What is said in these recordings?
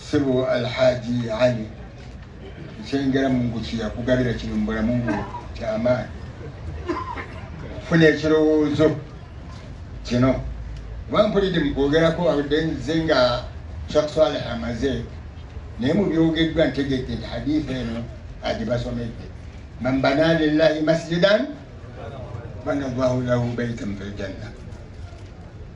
sebo alhaji ali ekyengera mungu kiyakugabira kino mubulamu bwo kyamaani funa ekirowoozo kino oba mpulidde mukwogerako awudde nze nga shak saleh amaze naye mubyogeddwa ntegedde nti haditha eno agibasomedde man bana lillahi masjidan bana llahu lahu baitan fi ljanna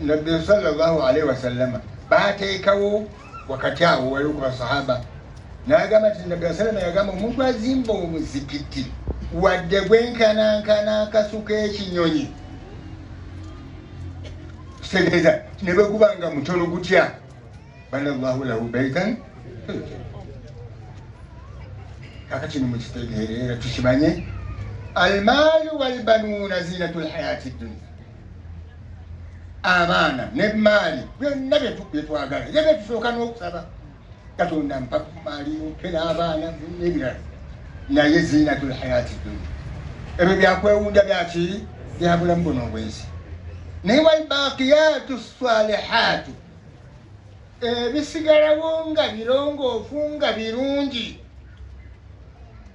nabbi salllahu alaihi wasallama bateekawo wakati awo waliwo ku basahaba nagamba ti nabbi wasallama yagamba omuntu azimba omuzikiti wadde gwenkanankana akasuka ekinyonyi kitegeeza ne bweguba nga mutono gutya bana llahu lahu baitan kaka kino mukitegeere era tukimanye almaalu walbanuuna zinatu lhayati dunia abaana nemaali byonna byetwagala era byetusooka n'okusaba katonda mpa ku maali mpe n'abaana nebirala naye ziinatul hayati dunia ebyo byakwewunda byaki byabulamu buno obwensi naye walbakiyatu salihatu ebisigalawo nga birongoofu nga birungi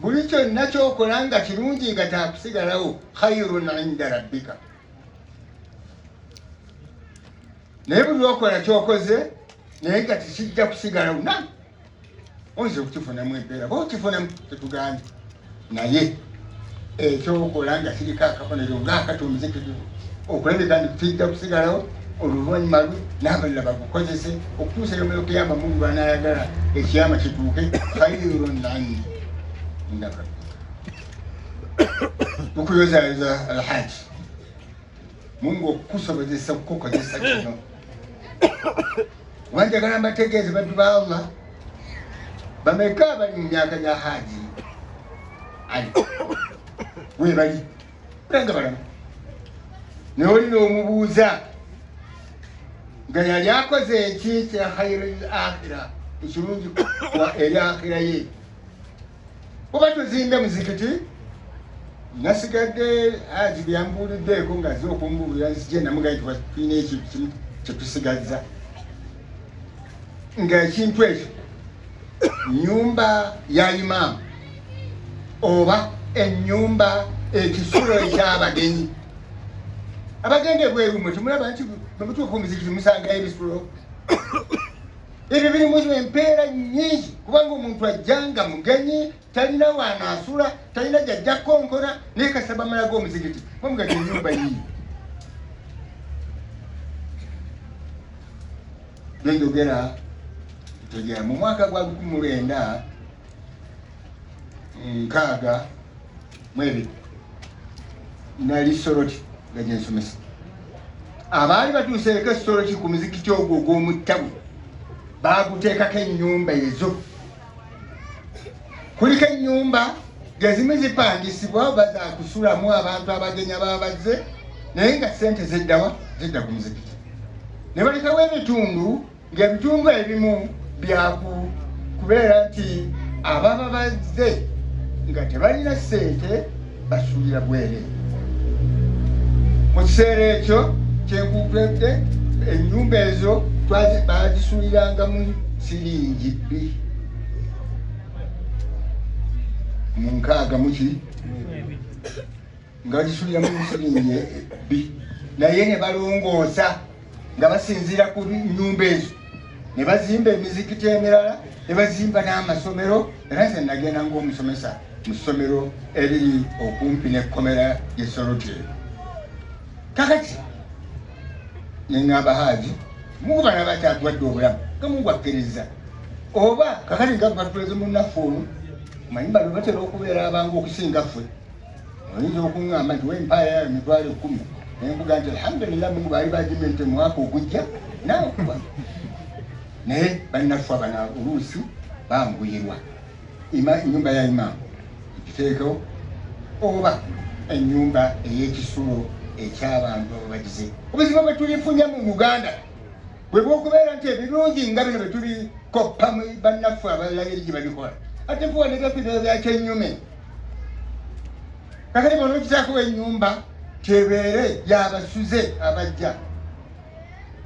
buli kyonna kyokola nga kirungi nga kyakusigalawo khairun inda rabbika naye buli lwokola kyokoze naye nga tikijja kusigalawo na oyinza okukifunamu empeera ba okifunamu tetugambye naye Eky'okukola nga kiriko akabonero ng'akati omuzikirivu okulabika nti kijja kusigalawo oluvannyuma lwe n'abalala bagukozese okutuusa yomero kuyamba mungu lwanaayagala ekiyama kituuke kayiro nanyi ndaba tukuyozayoza alhaji Mungu okukusobozesa okukukozesa kino kuba njagala mbategeeze baddu ba Allah bameka abali mu myaka gya haaji ali webali olanga balamu naye olina omubuuza nga yali akoze eki kya khairul akhira ekirungi eri akhira ye oba tuzimbe muzikiti nasigadde aji byambuuliddeeko nga ze okumbuulira nzije namugaye tulina ekyo kimu kyetusigazza nga ekintu ekyo nyumba ya imaamu oba enyumba ekisulo ekyabagenyi abagenda ebweru mwe temulaba nti bwemutuuka omuzikiti musangayo ebisulo ebyo birimu empeera nyingi kubanga omuntu ajja nga mugenyi talina waanaasula talina gyajja konkona naye kasaba amalaga omuzigiti bamugati enyumba yiyo byenjogera tegya mu mwaka gwa lukumi mulwenda nkaaga mwebiri nali soroti nga gyensomesa abaali batuuseeko esoroti ku muzikiti ogwo ogw'omuttabu baaguteekako ennyumba ezo kuliko ennyumba gezimu zipangisibwa oba zakusulamu abantu abagenya babazze naye nga sente zeddawa zidda ku muzikiti ne balekawo ebitundu ng'ebitundu ebimu byaku kubeera nti ababa bazze nga tebalina ssente basuulira bwere mu kiseera ekyo kyenkukwedde ennyumba ezo baazisuulirangamu siringi bbi mu nkaaga muki nga bagisulira mu musiringi ebbi naye ne balongoosa nga basinziira ku nnyumba ezo ne bazimba emizikiti emirala ne bazimba n'amasomero era nze nagenda ng'omusomesa mu ssomero eriri okumpi n'ekkomera ly'esoloteero kakati ne ŋŋamba haaji mungu bana bakyatwadde obulamu nga mungu akkiriza oba kakati nga batuleze munnaffe ono manyi bano batera okubeera abangu okusinga ffe oyinza okuŋŋamba nti wempaaya yayo mitwalo ekkumi nembuga nti alhamdulillah mungu baali bagimye nti omwaka ogujja nawe okuba naye bannaffe abana oluusi banguyirwa enyumba ya imaamu ekiteekewo oba enyumba ey'ekisulo eky'abantu ababagize obuzibu bwe tulifunye mu uganda bwe bwokubeera nti ebirungi nga bino bwe tulikoppa bannaffe abalala eri gye babikola ate kuwa ne byaffe byakyenyume kakati bona okitakuba enyumba tebeere yabasuze abajja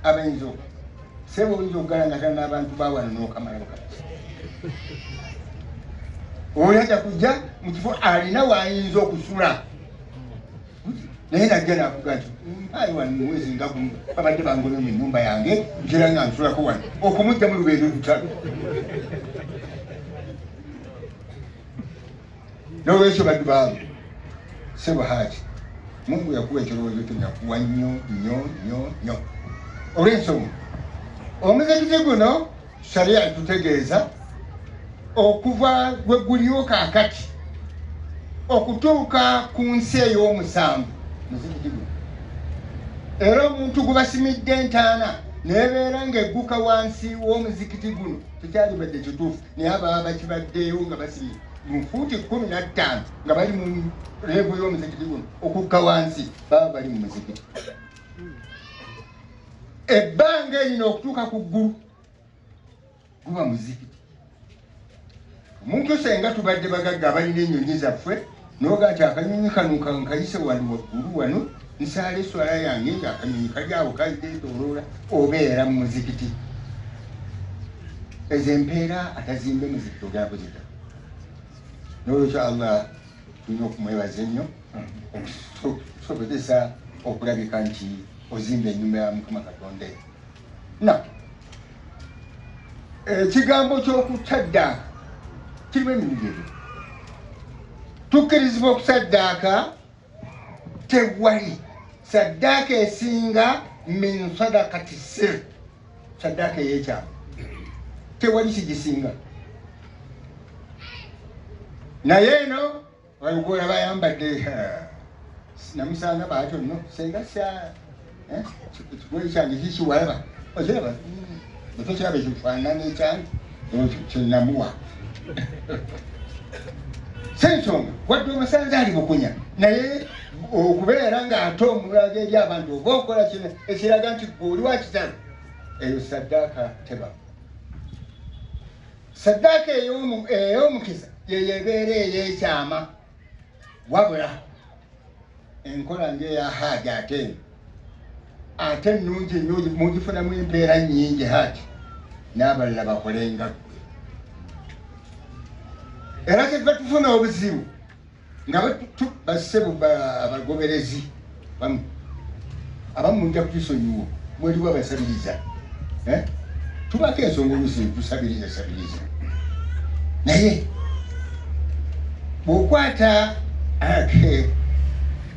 abayinza oku sebo oyinza okugalangata n'abantu bawano n'okamalamu kati oyo aja kujja mu kifo alina wayinza okusula naye najja nakuga nti mpayi wano mwezi nga gumu babadde bangono mu enyumba yange ntera nga nsulako wano okumujja mu lubeere olutalo N'olwekyo baddu baamu sebo haaki Mungu yakuwa ekirowoozo kino yakuwa nnyo nnyo nnyo nnyo olw'ensonga omuzikiti guno sharia etutegeeza okuva we guliwo kaakati okutuuka ku nsi ey'omusanvu muzikiti guno era omuntu gubasimidde entaana nebeera ng'egguka wansi w'omuzikiti guno tekyalibadde kituufu naye ababa bakibaddeewo nga basibye mu fuuti kkumi na ttaano nga bali mu leebu y'omuzikiti guno okukka wansi baba bali mu muzikiti ebbanga erino okutuuka ku ggulu guba muzikiti omuntu senga tubadde bagagga abalina ennyonyi zaffe Noga ati akanyonyi kano kankayise wali waggulu wano nsaala eswala yange nti akanyonyi kali awo kazeetoloola obeera mu muzikiti ezo empeera atazimbe muzikiti ogenda kuzita nolwekyo allah tulina okumwebaza ennyo okusobozesa okulabika nti ozimba enyumba ya mukama katonda na ekigambo ky'okukyaddaaka kirimu emirundi ebiri tukkirizibwa okusaddaaka tewali saddaaka esinga min sadakati sir saddaaka ey'ekyama tewali kigisinga naye eno Wayugula bayambadde namusanga baatyo no senga sya eh, ekigoye kyange kikiwalaba okiraba ekyokyaba ekifaanana ekyange ekyo kyenamuwa sensonga wadde omusanze ali bukunya naye okubeera ng'ate omulaga eri abantu oba okola kino ekiraga nti gwe oli wakitalo eyo saddaaka tebaa Saddaaka ey'omukiza yeyo ebeera ey'ekyama wabula enkola ng'eya haaji ate eno ate ennungi nnyo mugifunamu empeera nnyingi haaji n'abalala bakole nga ggwe era kyeva tufuna obuzibu nga bassebo abagoberezi bamu abamu mujja kutusonyiwa mweliwo abasabiriza eh? tubako ensonga olusi tusabiriza sabiriza naye bwokwata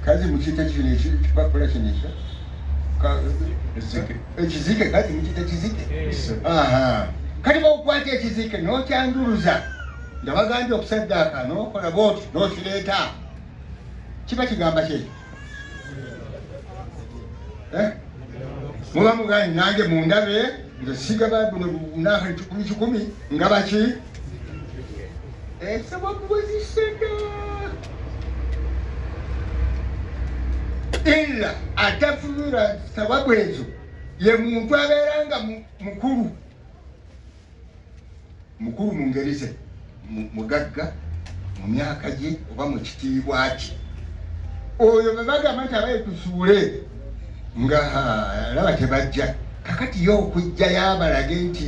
kazi mukita kino ekipapula kino ekyo ekizike kazi mukita kizike kati bwokwata ekizike nokyanduruza nga bagambye okusaddaaka n'okola bwoti n'okireeta kiba kigamba kye eh? muba mugani nange mundabe nze sigaba buno bunaka kikumi kikumi nga baki esaba eh, kuweziseda illa atafunira sababu ezo ye muntu abeera nga mukulu mukulu mu ngeri ze mugagga mu myaka gye oba mu kitiibwa kye oyo bwe bagamba nti abaye tusuule nga laba tebajja kakati yo okujja yabalage nti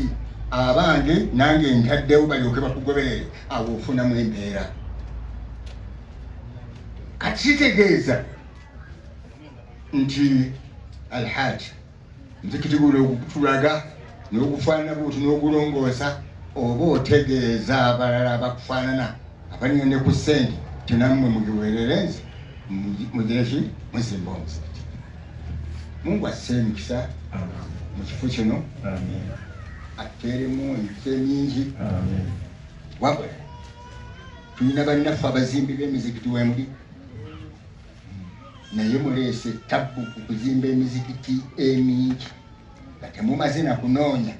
abange nange ntaddewo balyoke bakugoberere awo ofunamu embeera kati kitegeeza nti alhaaji Omuzikiti guno ogutulaga n'ogufaanana bwoti n'ogulongoosa oba otegeeza abalala abakufaanana abalina ne ku ssente nti nammwe mugiweerere nze mugireki muzimba omuzikiti mungu asse emikisa mu kifo kino atteeremu emikisa emingi wabula tulina bannaffe abazimbi b'emizikiti wemuli naye muleese tabbu ku kuzimba emizikiti emingi nga temumaze na kunoonya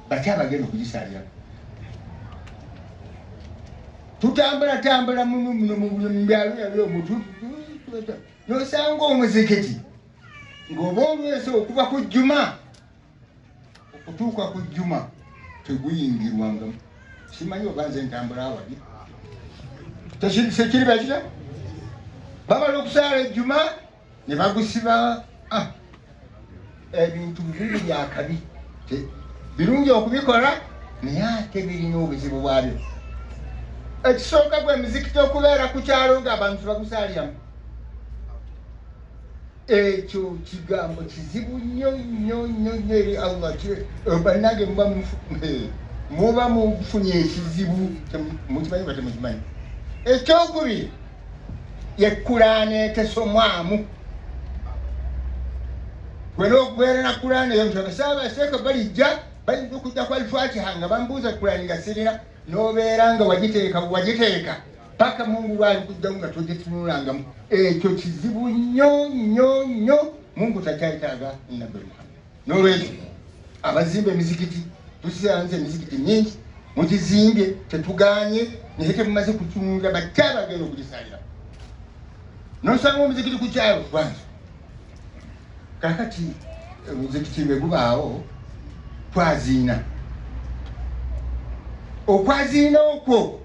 baki abagenda okugisaalira tutambula tambula muno muno mu buli mubyalo yali omutu nosanga omuzikiti ng'oba olwesa okuva ku jjuma okutuuka ku jjuma teguyingirwanga simanyi oba nze ntambula awali tekiri bakira bamala okusaala ejjuma ne bagusiba ah, ebintu bibiri byakabi birungi okubikola naye ate birina obuzibu bwabyo ekisooka gwe mizikiti okubeera ku kyalo nga abantu bagusaaliramu ekyo kigambo kizibu nnyo nnyo nnyo nnyo eri allah eh, bannange muba eh, muba mufunye ekizibu mukimanyi ba temukimanyi ekyokubiri yekulaana etesomwamu wena okubeera na kulaana eyo nti abasaaba aseeka balijja bayinza okujja ku alifatiha nga bambuuza kulaani nga sirina n'obeera nga wagiteeka wagiteeka paka mungu bwalikujjamu nga tojetunulangamu ekyo kizibu nnyo nnyo nnyo mungu takyayetaaga nabbi muhammad nolwekyo abazimba emizikiti tusiranza emizikiti mingi mugizimbye tetuganye naye temumaze kutunulira bakyabagenda okugisalira nosanga omuzikiti kukyalo kwange kakati omuzikiti bwe gubaawo twaziina okwaziina okwo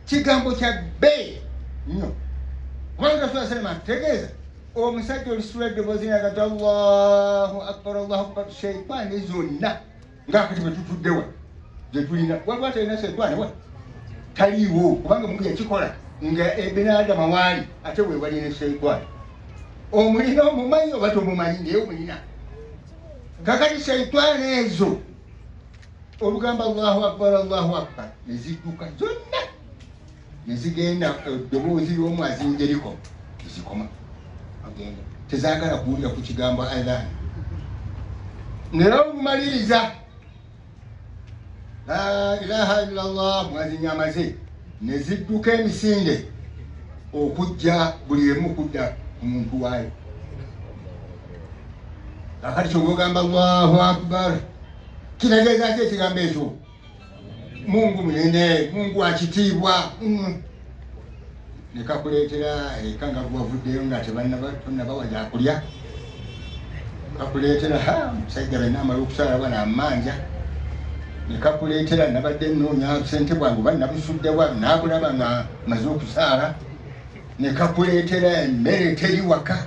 kigambo kya bbeeyi nnyo kubanga saa salama atutegeeza omusajja olusitula eddoboozi nagati allahu akbar allahu akbar sheitaani zonna nga kati bwe tutudde wa gye tulina waliwo atalina setaani wa taliiwo kubanga mungu yakikola nga ebinaadama waali ate wewali ne setaani omulina omumanyi oba tomumanyi naye omulina kakati setaani ezo olugamba allahu akbar allahu akbar nezidduka zonna ne zigenda eddoboozi ly'omwazi njeriko tezikoma agenda tezagala kuwulira ku kigambo adhan naye obumaliriza la ilaha illa llah mwazi nyamaze ne zidduka emisinde okujja buli emu okudda ku muntu waayo kakati kyogamba allahu akbar kinagezaako ekigambo ekyo mungu munene mungu akitiibwa mm. nekakuleetera eka nga gwavuddeyo nga tebannabawa gyakulya kakuleetera ha musajja bena amala okusaala bana amanja nekakuleetera nabadde noonya sente bwange oba nabusuddewa naabulaba nga maze okusaala nekakuleetera emmere teri waka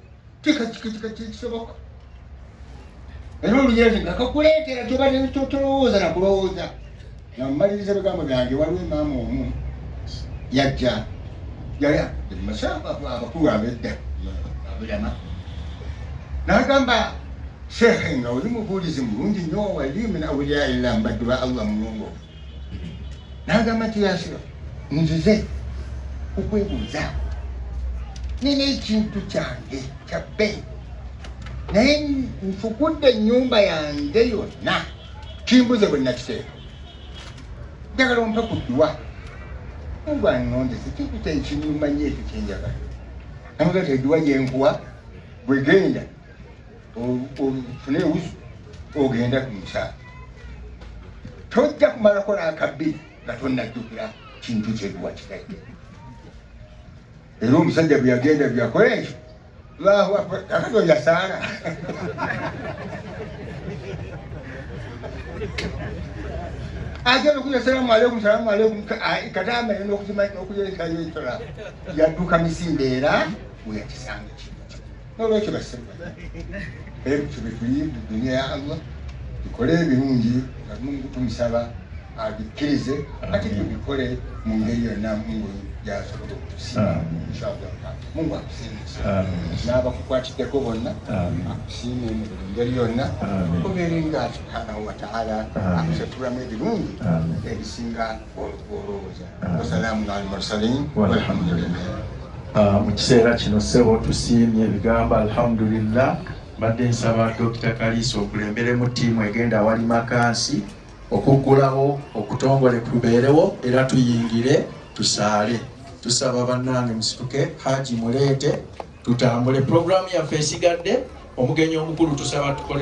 tekisoboka era oluyezi nga kakuleetera tobadde tolowooza na kulowooza nga mumaliriza ebigambo byange waliwo emaama omu yajja yali abakulu abedda abulama n'agamba sheekhe nga oli mubuulizi mulungi nnyo walimu nawulira ila mbaddu ba allah mulongo n'agamba nti yasula nzize okwebuuzaako nina ekintu kyange kya bbeeyi naye nfukudde ennyumba yange yonna kimbuze bwe nakiteeka njagala ompe ku dduwa ngwanondese kikuta ekinyuma nyo ekyo kyenjagala namugaa teduwa gyenkuwa bwegenda ofune ewuzu ogenda ku mukyala tojja kumala kola akabbi nga tonnajjukira kintu kyebiwakitadde era omusajja bwe yagenda byakola ekyo lwahu akati oyo asaala agenda okuya salamu aleikum salamu aleikum kadaama yona okuzima okuyerekayo ekyola yadduka misinde era weyakisanga kino nolwekyo basema ebyo byetuyimbu dunia ya allah tukole ebirungi nga mungu tumusaba abikkirize ate tubikole mu ngeri yonna mungu yasobola okusiima inshallah mungu akusiimisa n'abakukwatiddeko bonna akusiime mu buli ngeri yonna kubeere nga subhanahu wataala akusatulamu ebirungi ebisinga Ah, mu kiseera kino sebo tusiimye ebigambo alhamdulillah mbadde nsaba dokita kaliisa okulemberemu ttiimu egenda awali makansi okuggulawo okutongole kubeerewo era tuyingire tusaale tusaba bannange musituke haji muleete tutambule pulogulaamu yaffe esigadde omugenyi omukulu tusaba tukole